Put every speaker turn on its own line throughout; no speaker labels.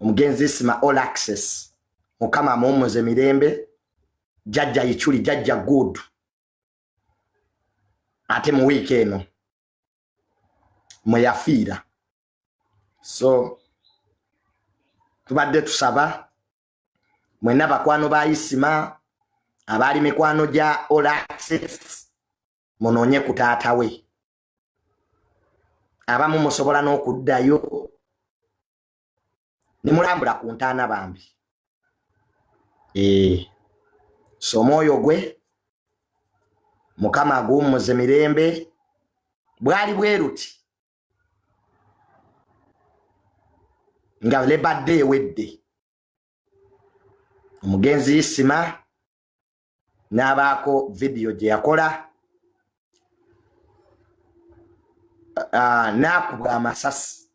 omugenzi isima all access mukama amuwumuze mirembe jajja yichuli jajja good ate mu wiiki eno mweyafiira so tubadde tusaba mwena bakwano ba isima abaali mikwano gya all access munoonye ku taata we abamu musobola n'okuddayo ne mulambula ku ntaana bambi ee eh, so omwoyo gwe mukama aguwummuze mirembe bwali bweruti nga lebadde ewedde omugenzi isima n'abaako vidiyo gye yakola ah, n'akubwa amasasi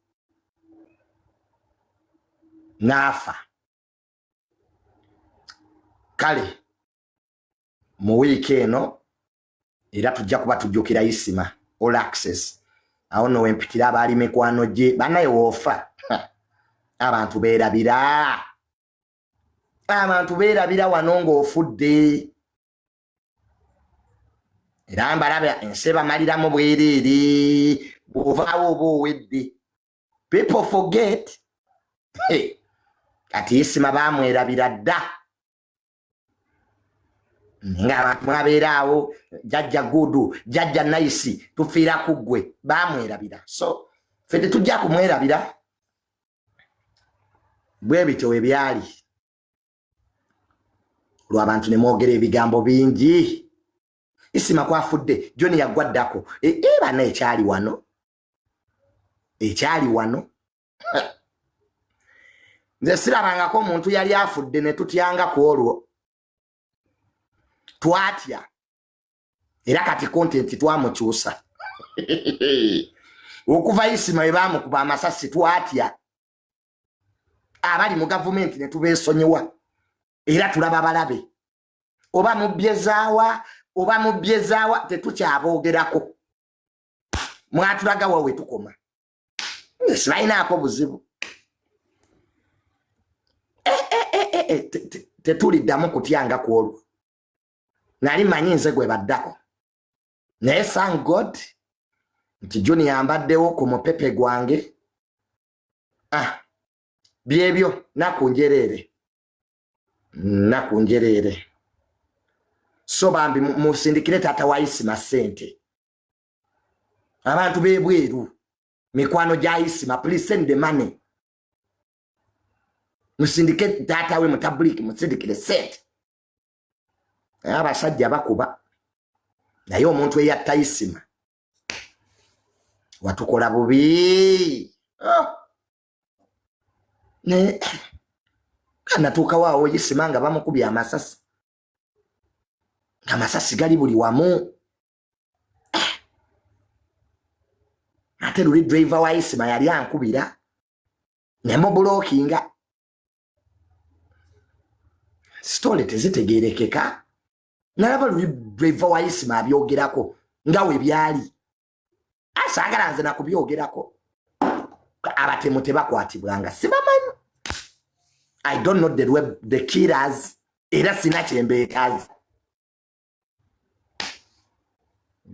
n'afa kale mu wiiki eno era tujja kuba tujjukira isima all access awo no wempitira abaali mikwano gye banaye woofa abantu beerabira abantu beerabira wano ng'ofudde era mbalaba ensi ebamaliramu bwereere bw'ovaawo oba owedde people forget kati isima baamwerabira dda ng'abantu mwabeeraawo jajja gudu jajja nayisi tufiira ku ggwe baamwerabira so fe tetujja kumwerabira bwe bityo bwe byali lw'abantu ne mwogera ebigambo bingi isima kwafudde joni yagwa ddako e, e bana ekyali wano ekyali wano nze sirabangako omuntu yali afudde ne tutyanga ku olwo twatya era kati kontenti twamukyusa okuva isima we baamukuba amasasi twatya abali mu gavumenti ne tubeesonyiwa era tulaba balabe oba mubbyezaawa oba mubbyezaawa tetukyaboogerako mwatulaga wawe tukoma sibalinaako buzibu eh, eh, eh, tetuliddamu kutyanga ku olwo nali manyi nze gwe baddako naye thank god nti junior mbaddewo ku mupepe gwange ah byebyo naku njereere naku njereere so bambi musindikire taata wa isima sente abantu bebweru mikwano gya isima please send the money musindike taata we mutabuliki musindikire sente naye abasajja bakuba naye omuntu eyattayisima watukola bubi oh. naye anatuukawo awo yisima nga bamukubye amasasi amasasi gali buli wamu eh. ate luli driver wa yisima yali ankubira nemubulokinga sitole tezitegerekeka nalaba luli driver wa isima abyogerako nga we byali asangala nze nakubyogerako abatemu tebakwatibwanga sibamanyi i don't know the, web, the killers era sina kyembeetazi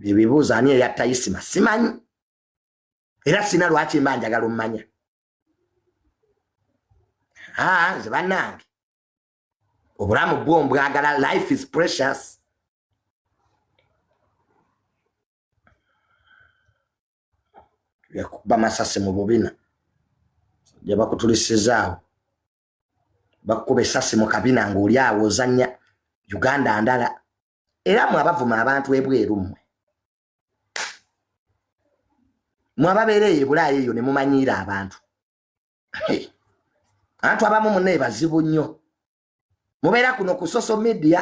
ebibuuzo ani eyatta isima simanyi era sina lwaki mba njagala omumanya ah, nze banange obulamu bwo mbwagala life is precious yakuba masasi mu bubina gyebakutulisizaawo bakukuba esasi mu kabina ngaoli awo ozanya uganda ndala era mwe abavuma abantu ebweru mmwe mwababeera eyo ebulaaya eyo ne mumanyiira abantu antu abamu munaye bazibu nnyo mubeera kuno ku social media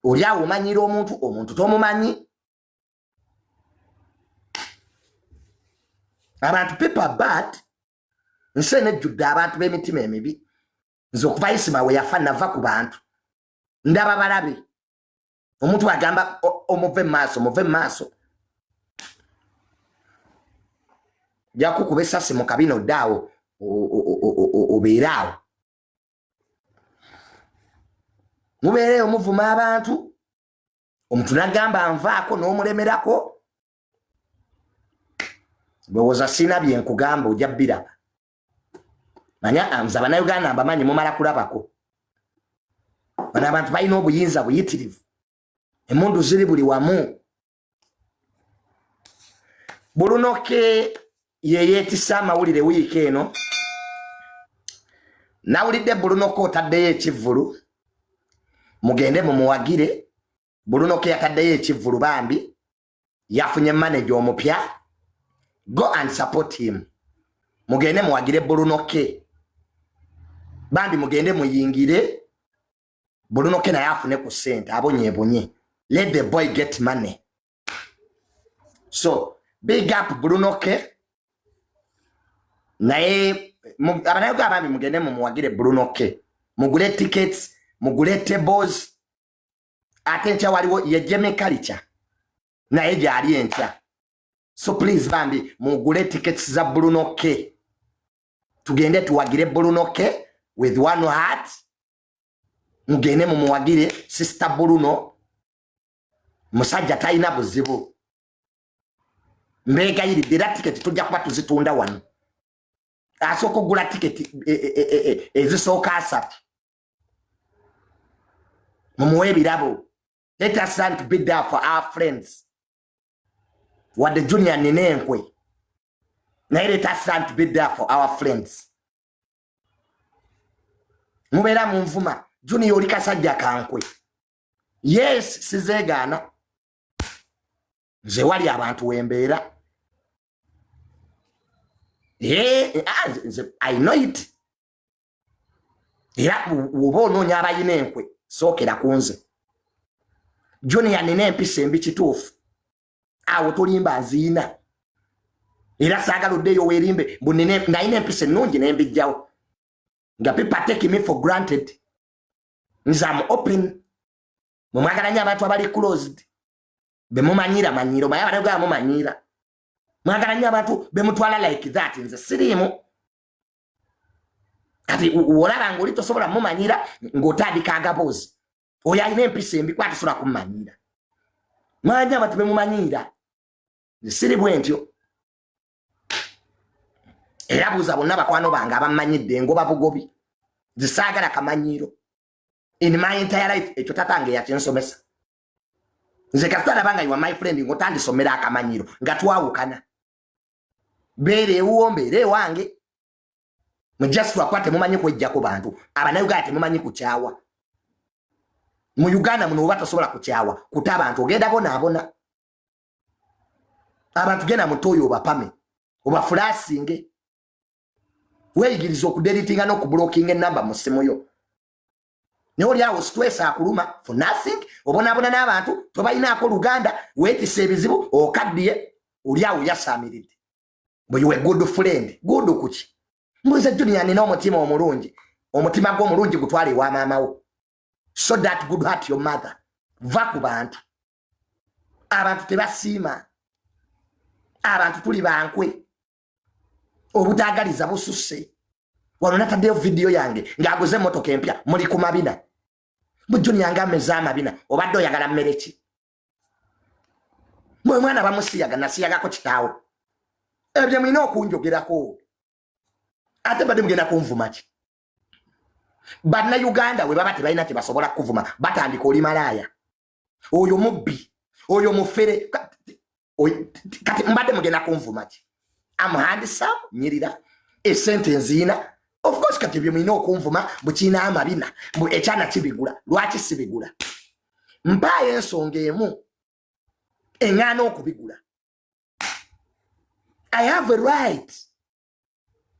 oli awo omanyiira omuntu omuntu tomumanyi abantu paper bat nsi eno ejjudde abantu b'emitima emibi nze okuva isima we yafa nava ku bantu ndaba balabe omuntu agamba omuve maaso muve maaso jakukuba esasi mu kabina oddaawo obeere awo mubeereyo muvuma abantu omuntu nagamba nvaako n'omulemerako ndowooza sina byenkugamba oja biraba manya nze abanauganda mbamanyi mumala kulabako bano abantu balina obuyinza buyitirivu emundu ziri buli wamu bulunoke yeyetisa amawulire wiiki eno nawulidde bulunoke otaddeyo ekivvulu mugende mumuwagire bulunoke yataddeyo ekivvulu bambi yafunye manager omupya go and support him mugende muwagire bulunoke bambi mugende muyingire bulunoke naye afune ku sente abonyebunye let the boy get money so big up bulunoke naye abanayoga abambi mugende mumuwagire bulunoke mugule tickets mugule tables ate enkya waliwo yejeme kalica naye gyali enkya so please bambi mugule tickets za bruno k tugende tuwagire bruno k with one heart mugende mumuwagire sister bruno musajja talina buzibu mbegayiridde era tiketi tujja kuba tuzitunda wano asooka okugula tiketi e, e, e, ezisooka asatu mumuwe ebirabo let us learn to be there for our friends wadde junior nina enkwe naye let us learn to be there for our friends mubeera munvuma junior oli kasajja kankwe yes sizeegaana nze wali abantu wembeera ah, i know it era woba onoonya abalina enkwe sookera ku nze junior nina empisa embi kituufu awo tolimba nziina era saagala oddeeyo weerimbe mbu nalina empisa ennungi nembijjawo nga people take me for granted nze am open mumwagala nyo abantu abali closed bemumanyira manyiro maye abalegaba mumanyiira mwagala nyo abantu bemutwala like that nze siriimu kati olaba ngaoli tosobola mumanyira ngaotandika agaboozi oyo alina empisa embi kuba tosobola kumumanyira mwanya abantu bemumanyira siri bwentyo era buuza bonna bakwano bange abamanyidde ngoba bugobi zisaagala kamanyiiro in my entire life ekyo tatange yakinsomesa nze kasita nabanga iwa my friend ngotandisomera akamanyiiro nga twawukana mbeera ewuwo mbeera ewange mujasi lwakuba temumanyi kwejjako bantu abanauganda temumanyi kukyawa mu uganda muno oba tosobola kukyawa kuta abantu ogenda bonaabona abantu genda mutoyo obapame obafulasinge weyigiriza okuderitinga nokubulokinga enamba mu simu yo naye oli awo stress akuluma for nothing obonabona n'abantu tobalinaako luganda weetisa ebizibu okaddiye oli awo yasaamiridde bwe yuwe good friend good kuki mbuza junior nina omutima omulungi omutima gwo omulungi gutwale ewa maamawo so that good heart your mother va ku bantu abantu tebasiima abantu tuli bankwe obutagaliza bususse wano nataddeyo vidiyo yange ng'aguze emmotoka empya muli ku mabina bujjuni yange ameze amabina obadde oyagala mmere ki mwe mwana bamusiyaga nasiyagako kitaawo ebyo mulina okunjogerako ate badde mugenda kunvuma ki bannayuganda we baba tebalina kye basobola kukuvuma batandika oli malaaya oyo mubbi oyo mufere kati mbadde mugenda kunvuma ki amuhandisa nyirira esente enziina of course kati ebyo mulina okunvuma bukiina amabina mbu ekyana kibigula lwaki sibigula mpaayo ensonga emu eŋŋaana okubigula i have a right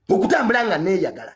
okutambula nga neeyagala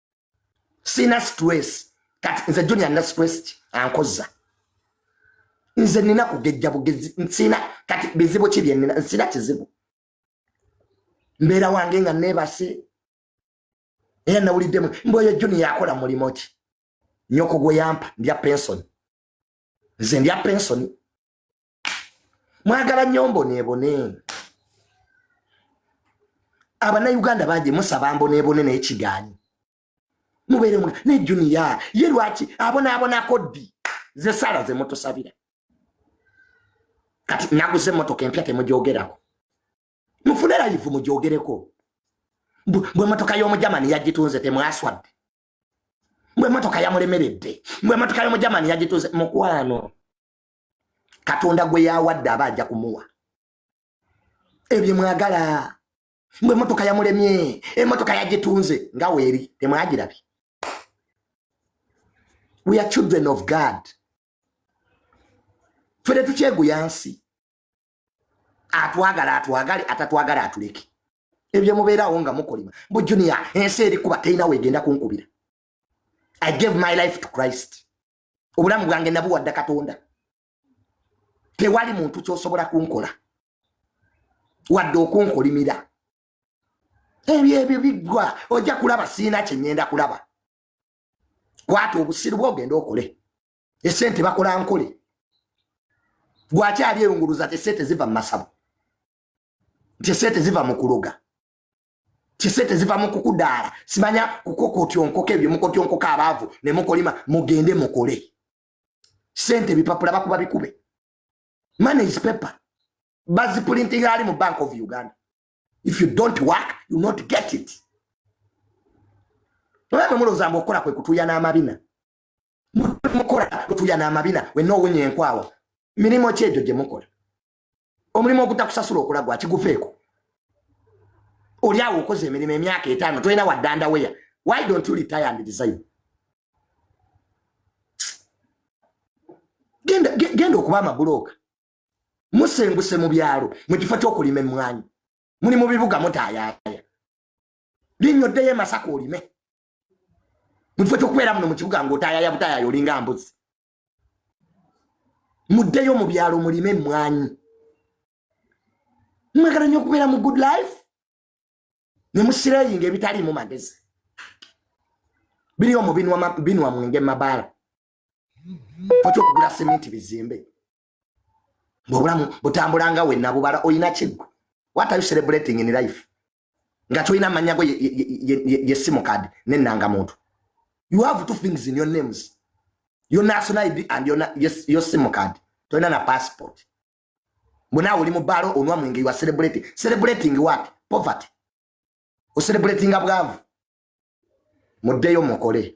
sina stress kati nze junior na stress ki ankoza nze nina kugejja bugezi nsina kati bizibu ki bye nina nsina kizibu mbeera wange nga neebase era nawuliddemu mboyo junior akola mulimu ki nyoko gwe yampa ndya pensoni nze ndya pensoni mwagala nnyo mboneebone abanauganda bangi musaba mboneebone naye kigaanyi mubeere mu ne juniya ye lwaki abonaabonako ddi ze sala ze mutusabira kati naguze emmotoka empya temugyogerako mufune layivu mugyogereko bwe motoka y'omujamani yagitunze temwaswadde bwe motoka yamulemeredde bwe motoka y'omujamani yagitunze mukwano katonda gwe yawadde aba ajja kumuwa ebyo mwagala mbu emotoka yamulemye emotoka yagitunze nga weeri temwagirabi we are children of god fe tetukyeguya nsi atwagala atwagale atatwagala atuleke ebyo mubeerawo nga mukolima mbu junia ensi erikuba terina wegenda kunkubira i gave my life to christ obulamu bwange nabuwadda katonda tewali muntu kyosobola kunkola wadde okunkolimira ebyo ebyo biggwa ojja kulaba siina kyenyenda kulaba kwata obusiru bwogenda okole esente bakola nkole gwakyali eyunguluza tesente ziva mumasabo tesente ziva mukuloga kisente ziva mu kukudaala simanya kukokotyonkoka ebyo mukotyonkoka abaavu ne mukolima mugende mukole sente bipapula bakuba bikube money is paper bazipulinting ali mu bank of uganda if you don't work you not get it olaba mulowooza mbu okukola kwe kutuya n'amabina mukola kutuya n'amabina we noowunya enkwawa mirimu ki egyo gye mukola omulimu ogutakusasula okola gwakiguveeko oli awo okoze emirimu emyaka etaano tolina waddanda weya why don't you retire and design genda okuba amabulooka musenguse mu byalo mu kifo ky'okulima emmwanyi muli mu bibuga mutayaaya linnya oddeyo emasaka olime mu kifo ky'okubeera muno mu kibuga ng'otayaaya butayaaya olinga mbuzi muddeyo mu byalo mulime emmwanyi mwagala nnyo okubeera mu good life ne musireyinga ebitaliimu magezi biri omu binwa mwenge mabaala okyokugula seminti bizimbe ngaobulamu butambula nga wenna bubala olina kiggwe what are you celebrating in life nga tolina amannya go yesimu kadi nenanga muntu you have two things in your names your national id and your, your, your simu kadi tolina na passport mbonaawe oli mu baalo onwa mwenge you are celebrating celebrating what poverty ocelebratinga bwavu muddeyo mukole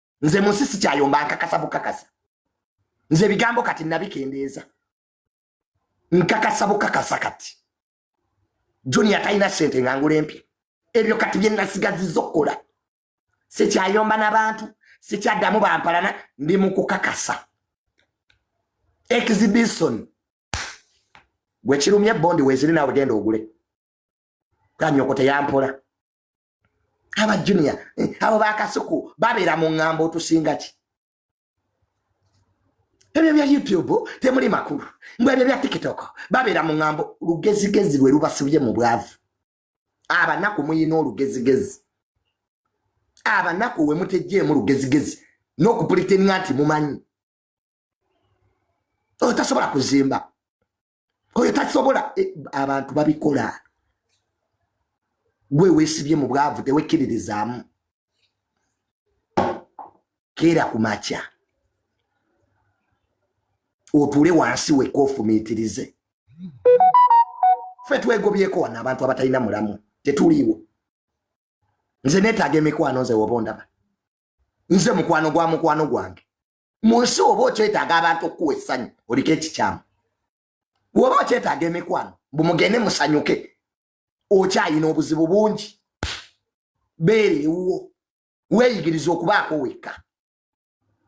nze munsi sikyayomba nkakasa bukakasa nze ebigambo kati nabikendeeza nkakasa bukakasa kati junior talina sente nga ngula empya ebyo kati byenasigaziza okukola sikyayomba nabantu sikyaddamu bampalana ndi mukukakasa exhibition gwekirumye bondi weziri nawe genda ogule kanyoko teyampola aba junior eh, abo bakasuku babeera mu ŋŋambo otusinga ki ebyo bya youtube temuli makulu mbw ebyo bya tiktok babeera mu ŋŋambo lugezigezi lwe lubasibye mu bwavu abanaku muyina olugezigezi abanaku wemutejjeemu lugezigezi n'okupulitenga nti mumanyi otasobola kuzimba oyo tasobola e, abantu babikola gwe wesibye mu bwavu tewekkiririzaamu keera ku makya otuule wansi weka ofumiitirize fe twegobyeko wano abantu abatalina mulamu tetuliiwo nze netaaga emikwano nze woba ondaba nze mukwano gwa mukwano gwange mu nsi oba okyetaaga abantu okukuwa essanyu oliko ekikyamu woba okyetaaga emikwano bumugende musanyuke okyayina obuzibu bungi beera ewuwo weeyigiriza okubaako wekka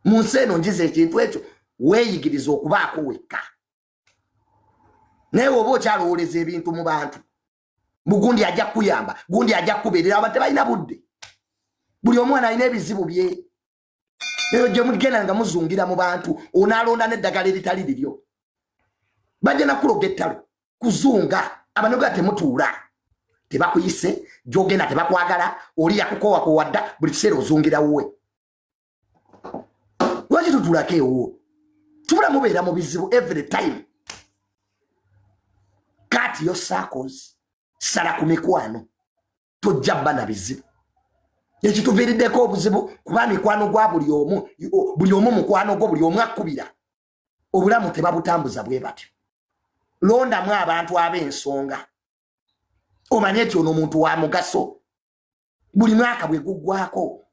mu nsi eno njiza ekintu ekyo weeyigiriza okubaako wekka naye woba okyalowooleza ebintu mu bantu mbu gundi ajja kukuyamba gundi ajja kukubeerera abantu tebalina budde buli omwana alina ebizibu bye eyo gye mugenda nga muzungira mu bantu onaalonda n'eddagala eritali liryo bajja nakuloga ettalo kuzunga abanoga temutuula tebakuyise gyogenda tebakwagala oli yakukowakowa dda buli kiseera ozungira wuwe lwaki tutulako ewuwo tubula mubeera mu bizibu every time kati yo sakozi sala ku mikwano tojja bba na bizibu ekituviiriddeko obuzibu kuba mikwano gwa buli omu buli omu mukwano gwo buli omu akkubira obulamu tebabutambuza bwe batyo londamu abantu ab'ensonga omanye nti ono omuntu wa mugaso buli mwaka bwe guggwako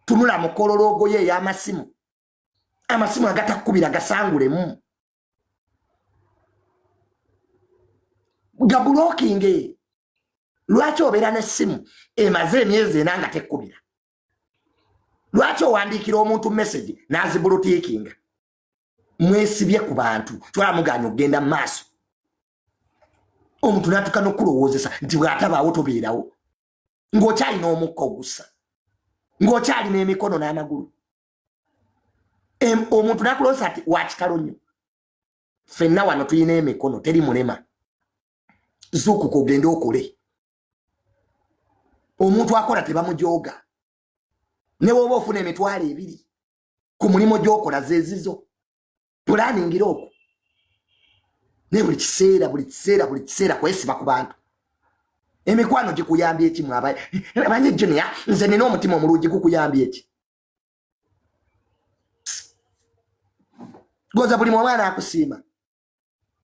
tunula mukololoogo ye ey'amasimu amasimu agatakukubira gasangulemu nga bulokinga eyo lwaki obeera n'essimu emaze emyezi ena nga tekkubira lwaki owandiikira omuntu message n'azibulutiikinga mwesibye ku bantu kyolaba mugaanya okugenda mu maaso omuntu n'atuka n'okukulowoozesa nti bw'atabaawo tobeerawo ng'okyalina omukka ogussa ng'okyalina emikono n'amagulu omuntu nakuloosa ti wakitalo nnyo fenna wano tulina emikono teri mulema zuukuka ogende okole omuntu akola tebamujooga newoba ofuna emitwalo ebiri ku mulimu gyokola zezizo pulaningira okwo naye buli kiseera buli kiseera buli kiseera kwesiba ku bantu emikwano gikuyambye ekimu abanye junior nze nina omutima omulungi gukuyambye eki goza buli mwamwana akusiima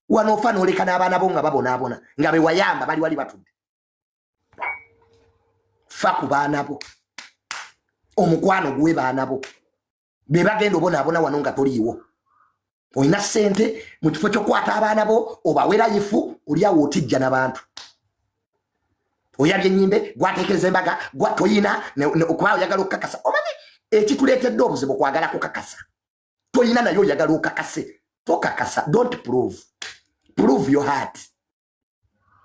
wano ofa noleka n'abaana bo nga babonaabona nga bewayamba bali wali batudde fa ku baana bo omukwano guwe baana bo bebagenda obonaabona wano nga toliiwo olina sente mu kifo kyokukwata abaana bo obawera yifu oliawo otijja nabantu oyabye enyimbe gwatekereza embaga gwatoyina okuba oyagala okukakasa omanyi ekituleetedde obuzibu kwagala kukakasa toyina naye oyagala okakase tokakasa dont prove prove your heart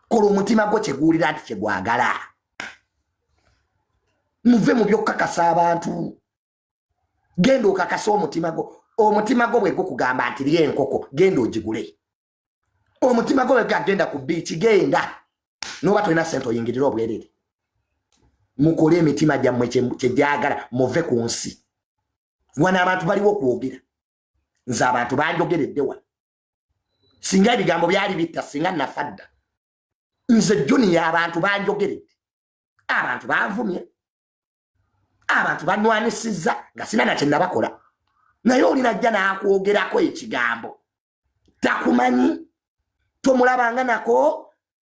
kola omutima gwo kyeguwulira nti kyegwagala muve mu byokukakasa abantu genda okakase omutima gwo omutima gwo bwe gukugamba nti lya enkoko genda ogigule omutima gwo bwega genda ku biiki genda noba tolina sente oyingirire obwerere mukole emitima gyammwe kyegyagala muve ku nsi wano abantu baliwo okwogera nze abantu banjogeredde wano singa ebigambo byali bitta singa nafa dda nze juniya abantu banjogeredde abantu banvumye abantu banwanisiza nga sina na kyenabakola naye oli najja nakwogerako ekigambo takumanyi tomulabanga nako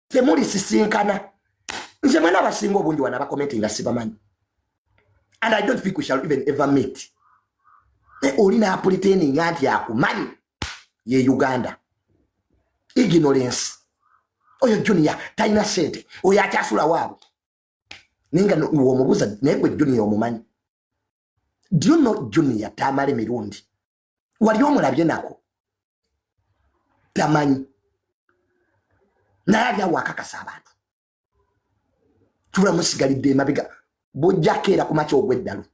temulisisinkana nze mwena abasinga obungi wana bakomenti nga sibamanyi and i don't think we shall even ever meet naye oli napuliteninga nti akumanyi ye uganda ignorance oyo junior talina sente oyo akyasula waabwe naye nga womubuuza naye gwe junior omumanyi do you know junior tamale mirundi wali omulabye nako tamanyi naye ali awo akakasa abantu tula musigalidde emabega bujjakeera ku makya ogw'eddalu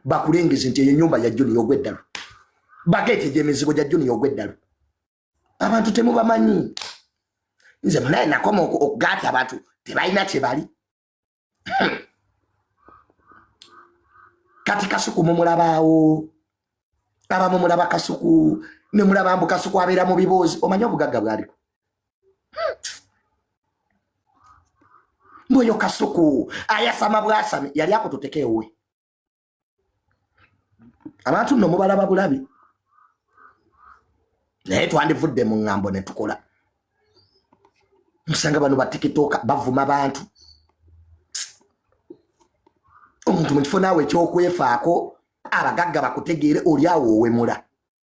bakulengeze nti eyo nyumba ya junior ogw'eddalu bageeteja emizigo gya junior ogw'eddalu abantu temubamanyi nze munaye nakoma okugaati abantu tebalina kyebali hmm. kati kasuku mumulabaawo abamu mulaba kasuku nemulaba mbu kasuku abeera mu biboozi omanye obugagga bwaliko hmm. mbu oyo kasuku ayasama bwasami yali akututeka ewe abantu nno mubalaba bulabi naye twandivudde mu ŋŋambo ne tukola musanga bano batikitooka bavuma bantu omuntu mu kifo naawe ekyokwefaako abagagga bakutegeere oli awo owemula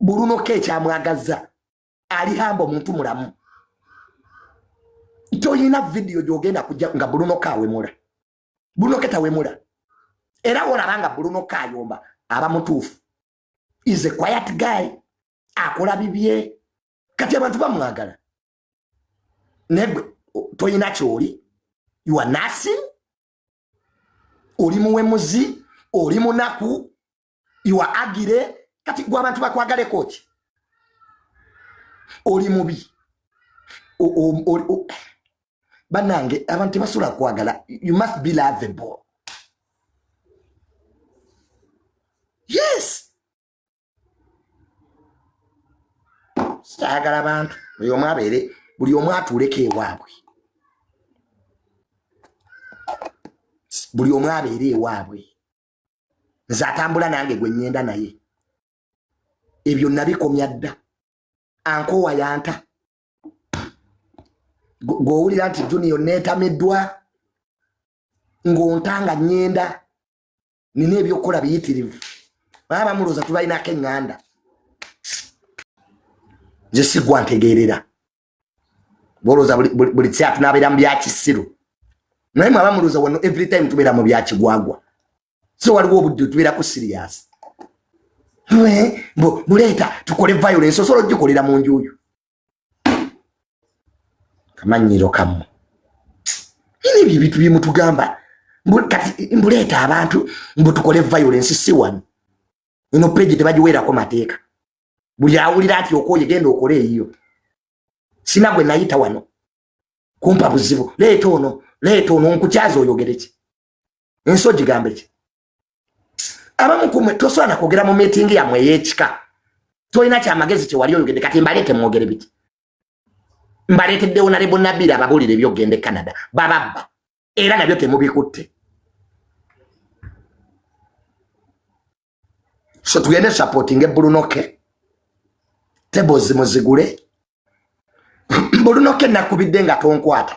buluno ke ekyamwagazza ali hamba omuntu mulamu toyina vidiyo gyogenda kujja nga buluno ka awemula buluno ke tawemula era wolaba nga buluno ka ayomba aba mutuufu is a quiet guy akola bibye kati abantu bamwagala negwe toyina kyoli you are nothing oli muwemuzi oli munaku iwa agire kati gwe abantu bakwagaleko ki oli mubi banange abantu tebasula kwagala you must be lovable yes saagala bantu oyo omu abeere buli omu atuuleko ewaabwe buli omu abeere ewaabwe nze atambula nange gwe nyenda naye ebyo nabikomya dda ankoowa yanta gwowulira nti junior netamiddwa ng'ontanga nyenda nina ebyokukola biyitirivu baba bamulooza tubalinako eŋŋanda nze sigwa ntegeerera bolooza buli kiseera tunabeera mu byakisiru naye mwe abamulooza wano every time tubeera mu byakigwagwa so waliwo obudde tubeerako siriyasi buleeta tukole violence osobola ogikolera mu njuuyo kamanyiro kamu ini ebyo ebintu byemutugamba kati mbuleeta abantu mbu tukole violence si wano ino peji tebagiweerako mateeka buli awulira ati okoye genda okole eyiyo sina gwe nayita wano kumpa buzibu leeta ono leeta ono nkukyaza oyogereki ensi ogigambeki abamu kumwe tosaana kwogera mu miitingi yammwe ey'ekika tolina kyamagezi kyewali oyogedde kati mbaleete mwogere biki mbaleeteddewo nale bunabiri ababuulire ebyokugenda e canada bababba era nabyo temubikutte so tugende supporting ebulunoke tebozi muzigule bulunoke nakubidde nga tonkwata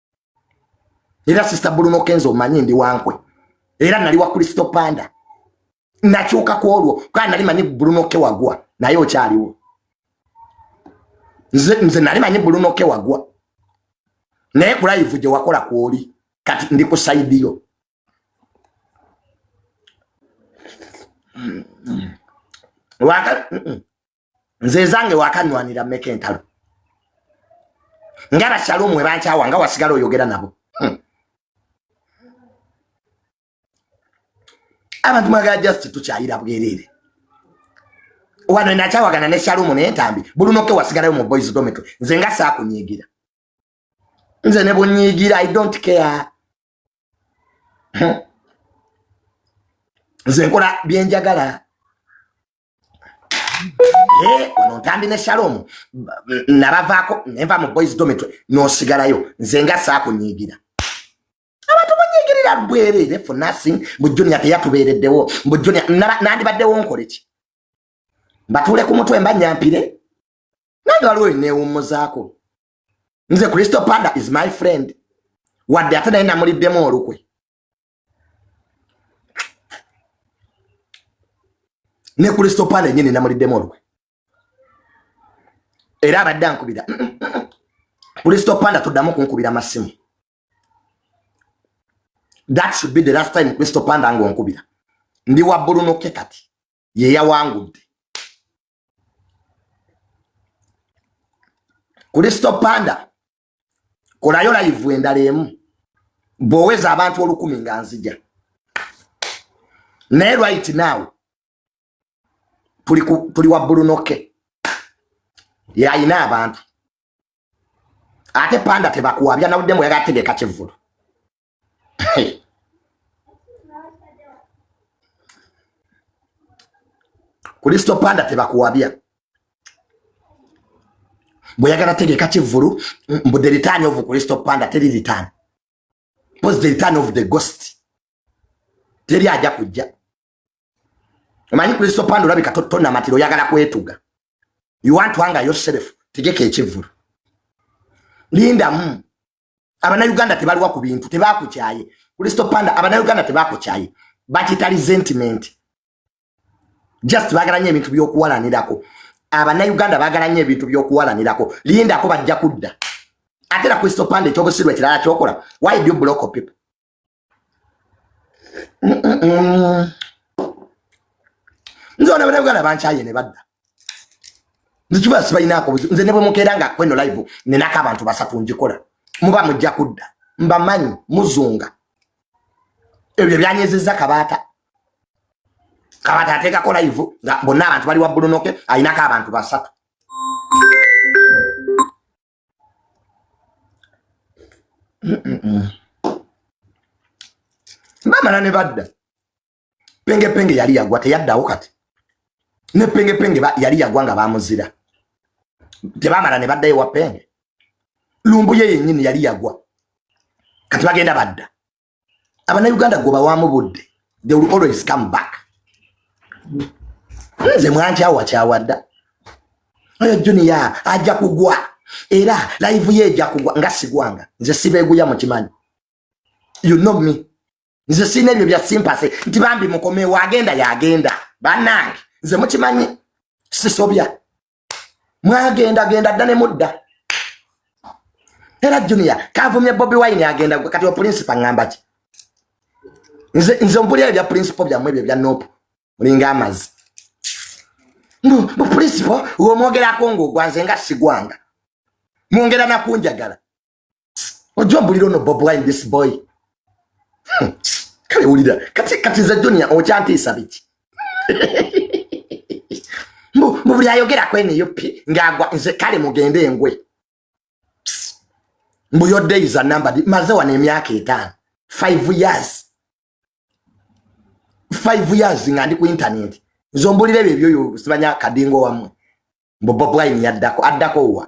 era sista buluno kenzo omanyi ndi wankwe era nali wa kristo panda nakyuka ku olwo kaa nali manyi buluno ke wagwa naye okyaliwo nze, nze nali manyi buluno ke wagwa naye kulayivu gye wakola kwoli kati ndi ku saidi yo waka mm -mm. nze ezange wakanwanira meka entalo nga bashalumu webankyawa nga wasigala oyogera nabo hmm. abantu mwagala just tukyayira bwerere wano enakyawagana ne shalumu naye ntambi bulunoke wasigalayo mu boys dometry nze nga saakunyigira nze ne bunyigira i don't care hmm. nze nkola byenjagala Eh, ono ntambi ne shalom nabavaako nenva mu boys dometry nosigalayo nze nga saakunyiigira abantu munyigirira bwerere for nothing mbu junior teyatubeereddewo mbu junior nandibaddewo nkoleki mbatuule ku mutwe mba nyampire nange waliwo enewummuzaako nze kristo panda is my friend wadde ate naye namuliddemu olukwe ne ku listopala enyini namuliddemu olukwe era abadde ankubira ku listopala tuddamu kunkubira masimu that should be the last time ku listopala nga onkubira ndi wa bulunoke kati yeyawangudde ku listopala kolayo layivu endala emu bwoweza abantu olukumi nga nzija naye right now tuli wa bulunoke yalina abantu ate panda tebakuwabya nawuddemu yali ategeka kivulu Kristo panda tebakuwabya bweyagala tegeka kivulu mbu the return of Kristo panda teri return was the return of the ghost teri aja kujja omanyi Kristo panda olabika totona matiro oyagala kwetuga you want to anger yourself tegeka ekivulu linda mu abanauganda tebaliwa ku bintu tebakukyaye kristo panda abanauganda tebakukyaye bakita resentment just bagala nyo ebintu byokuwalanirako abanauganda bagala nyo ebintu byokuwalanirako lindako bajja kudda ate na kristo panda ekyobusirwa ekirala kyokola why do you block people nze ona banabuganda bankyaye ne badda nzikiba sibalinaako buzibu nze ne bwe mukeera nga kweno live nenako abantu basatu ngikola muba mujja kudda mbamanyi muzunga ebyo byanyezezza kabaata kabaata ateekako live nga bonna abantu bali wa bulunoke alinako abantu basatu bamala ne badda pengepenge yali yagwa teyaddawo kati ne pengepenge yali yagwa nga bamuzira tebamala ne baddayo wa penge lumbuye yennyini yali yagwa kati bagenda badda abanauganda gwebawamu budde they will always come back nze mwankyawakyawadda oyo juniya ajja kugwa era laivu ye ejja kugwa nga sigwanga nze sibeguya mukimanyi you know me nze sina ebyo bya simpase nti bambi mukomewo agenda yagenda banange nze mukimanyi sisobya mwagenda genda dda ne mudda era junior kavumye bobi wine agenda gwe kati opulinsipa ngamba ki nze nze mpulira ebya pulinsipo byammwe ebyo bya nopu mulinga amazi mupulinsipo womwogerako ngaogwa nze nga sigwanga mwongera nakunjagala Wajua mbulira ono Bob Wine this boy. Hmm. Kale wulira. Kati kati za junior okyantiisa biki? Mbu mbu buli ayogera kwene yopi ngagwa nze kale mugende engwe. Mbu your day is a number. Maze wana emyaka etaano. Five years. Five years nga ndi ku internet. Nzombulira ebyo ebyo sibanya kadingo wamwe. Mbu Bob Wine yaddako addako wa.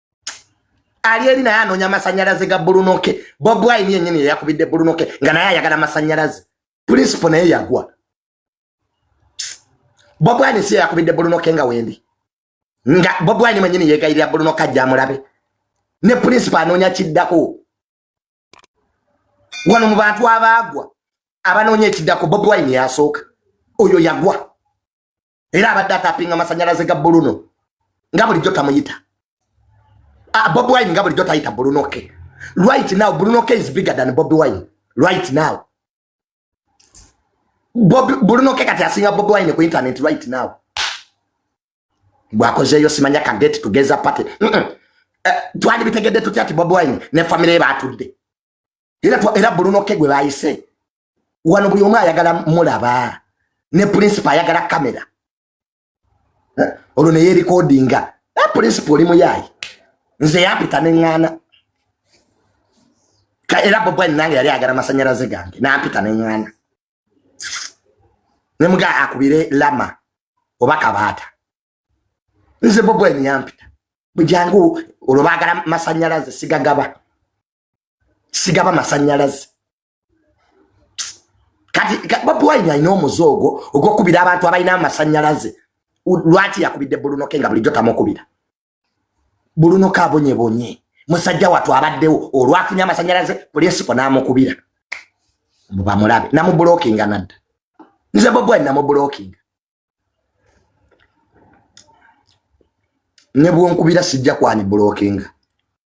ali eri naye anoonya amasanyalaze ga bulunoke bob wine yenyini yeyakubidde bulunoke nga naye ayagala amasanyalaze principle naye yagwa bob wine si yeyakubidde bulunoke nga wendi nga bob wine mwenyini yegayirira bulunoke ajja amulabe ne principle anoonya kiddako wano mu bantu abaagwa abanoonya ekiddako bob wine yasooka oyo yagwa era abadde atapinga amasanyalaze ga buluno nga bulijjo tamuyita ah, bobi wine nga bulijjo tayita buluno ke right now buluno ke is bigger than bobi wine right now buluno ke kati asinga bobi wine ku internet right now bwakozeeyo simanya ka get together party mm -mm. Eh, twali bitegedde tutya ti bobi wine ne famire ye batudde era era bulunoke gwe bayise wano buli omu ayagala mulaba ne principal ayagala kamera eh, olwo naye erikodinga eh, principal oli muyaayi nze yampita neŋŋaana era bobwani nange yali agala masanyalaze gange nampita neŋŋaana ne muga akubire lama oba kabaata nze bobwani yampita bujangu olwo bagala masanyalaze sigagaba sigaba masanyalaze kati bobi wine alina omuze ogwo ogwokubira abantu abalina amasanyalaze lwaki yakubidde bulunoke nga bulijjo tamukubira bulunoke abonyebonye musajja watu abaddewo olwafunye amasanyalaze pulinsiko namukubira bamulabe namubulokinga nadda nze bobi wine namubulokinga nebwonkubira sijja kwani bulokinga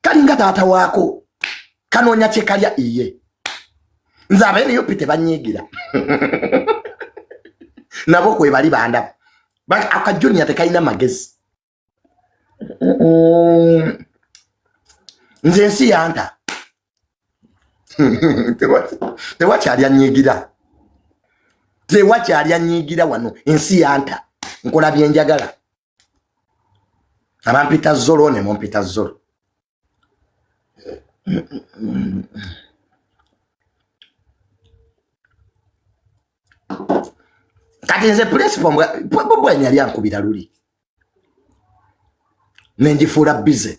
kalinga taata waako kanoonya kyekalya iye nze abenup tebanyiigira nabo kwebali bandaba akajuniya tekalina magezi nze ensi yanta tewakyali anyiigira tewakyali anyiigira wano ensi yanta nkola byenjagala abampita zolo ne mumpita zolo kati nze principal bwebwanya yali ankubira luli nenjifuula bize